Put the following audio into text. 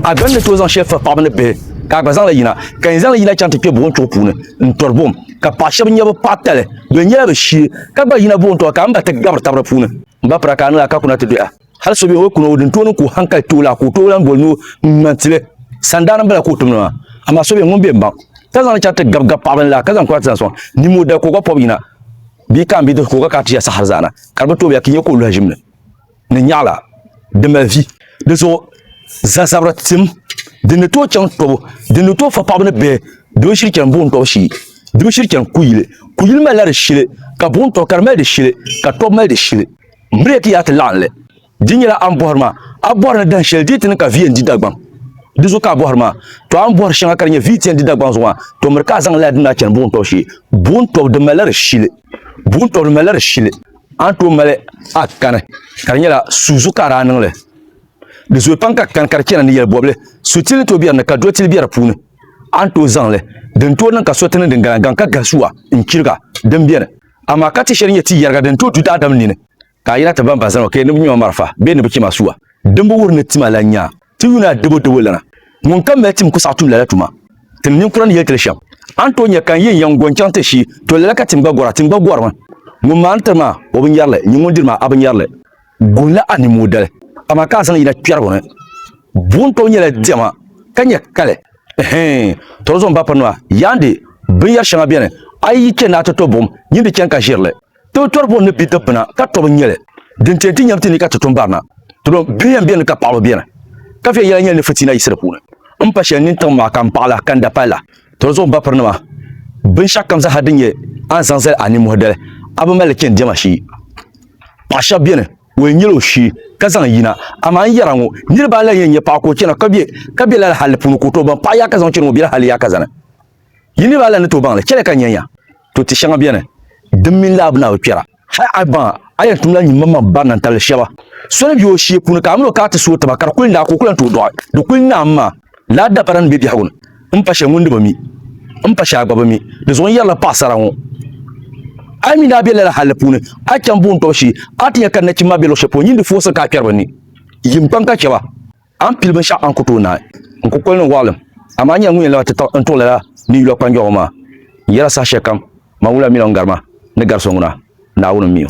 A gani ni tooi zaŋ shɛli firi paɣaba ni bihi ka a gba zaŋli yina ka yɛn zaŋli yina chaŋ ti kpɛ buɣum chuɣu puuni n tɔri buɣum ka paɣa shɛba nyɛ bi paɣa tali di nyɛla bi shee ka gba yina buɣum tɔbu ka n ba ti gabiri tabiri puuni n ba pira ka a niŋ a ka kuna ti doya hali so bɛ o kuna o din tooni ka o hankali tooi la ka o tooi lahi boli ni o ŋmani tili sandaani n bala ka o tumdi maa amaa so bɛ ŋun bɛ n baŋ ka zaŋli chaŋ ti gabi gabi paɣaba ni la ka zaŋ kuna ti zaŋ sɔŋ nimo dali ka o gba pɔbi yina bia ka n bidib ka o gba kana ti ʒiya saha hali zaana ka di bi tooi biya ka i nyɛ ka o luhi ʒimli ni nyaɣila di mali vi. Di zuɣu zazabira tim din ni tooi chaŋ tɔbu, din ni tooi fa paɣaba ni bihi di bi shiri chani buɣim tɔbu shee, di bi shiri chani kuyili. Kuyili malila di shili, ka buɣim tɔbu ka di mali di shili, ka tɔbu mali di shili. M bi lee ti yaai ti laɣim li. Di nyɛla a ni bɔhiri maa, a bɔhiri ni dahin shɛli di yi ti niŋ ka vi yɛn di Dagbaŋ. Di zuɣu ka a bɔhiri maa. Tɔ a ni bɔhiri shɛŋa ka di nyɛ vi yi ti yɛn di Dagbaŋ zuɣu maa, tɔ miri ka a zaŋ lala di ni a chani buɣim tɔbu shee. Buɣim tɔbu di malila di shili. Buɣim tɔbu di malila di shili. a ni tooi mali a kani ka di nyɛla suu zuɣu ka a daa niŋli di zooi pam ka kani ka di chɛna ni yɛli bɔbili sutili ni tooi bɛ di ni ka dotili bɛ di puuni a ni tooi zaŋli din tooi niŋ ka so ti niŋ din galangaŋ ka gahi suwa n chiriga din biɛni amaa ka ti shɛli nyɛ ti yɛriga din tooi du daadam nini ka a yina ti bamba zani o ka yɛn ni bi ŋmɛ ma marafa bee ni bi chɛ ma suwa din bi wuhi ni tima la nyaa Ti Yuni a debo debo lana, ŋun ka mali tim ku saɣi tum lala tuma. Tim ninkura ni yɛli ti li shɛm, A ni tooi nya ka n yi n yiŋ go n-chaŋ ti shii, to lala ka tim gba gɔra, tim gba gɔrimi. Ŋun maa ni tiri ma o binyɛri li, nyin ŋun diri ma a binyɛri li. Gɔnla a ni moodali, amaa ka a zaŋ yina kpɛrigu ni. Buɣim tɔbu nyɛla diɛma, ka nyɛ kali. Ɛhɛin! Tɔri zuɣu m ba pirinima, yaandi! Binyɛri shɛŋa beni, a yi yi chɛ ni a ti to buɣim, nyin di chani ka ʒiri li. Ti tɔri buɣim ni bidibbina ka tɔbu nyɛli din ti yɛn ti nyɛbu ti ni ka ti tum barina. Ti lo bihi yɛn beni ka paɣaba beni. Ka viɛnyɛla nyɛli ni fitina yiɣisi di puuni. M pa shɛli nini tiŋ maa ka m paɣila ka n dapalila. Tɔri zuɣu m bapirinima, binshɛɣukam zaaha din nyɛ a ni zaŋ zali a nimmohi dali, a bi mali li chani diɛma shee. Paɣa shɛba beni, o yɛn nyɛla o shee ka zaŋ yina. Amaa n yɛra ŋɔ, niriba anahi yɛn nya paɣa ka o chana ka be ka be lala halli puuni ka o tooi baŋ paɣa yaakaza ŋun chani ŋɔ bela halli yaakaza ni. Yi niriba alan ni tooi baŋ li. Chɛliya ka n nya ya. To ti shɛŋa beni din mini laabu na bi kpɛra. Hal a baŋ a yɛn tumla nyimmaŋmaŋ barina n-tabili shɛba. So ni be o shee puuni ka a min o ka a ti sooi taba ka di kuli naai ka o ku lan tooi dɔɣi. Di kuli naai m-ma. Laa dabara ni be biɛhigu ni, m pa shɛli ŋun di bi mi. M pa shɛli a gba bi mi. Di zuɣu n yɛrila paɣisara ŋɔ, A yi mi ni a be lala halli puuni, a chaŋ buŋ tɔbu shee, a ti nya ka nachimba maa be luɣ shɛli polo, nyin di foosi ka a kpɛri bɛ ni. Yim kpaŋ ka chɛ ba. A ni pili binshɛɣu a ni ku tooi naai n kukoli ni n waɣilim, amaa nyɛla ŋun yɛn laba ti taɣi n tuɣi lala mii yula kpanjɔɣu maa. N yɛla saha shɛli kam, man wula mini o ni gari ma ni gari so ŋuna, Naawuni m-mi o.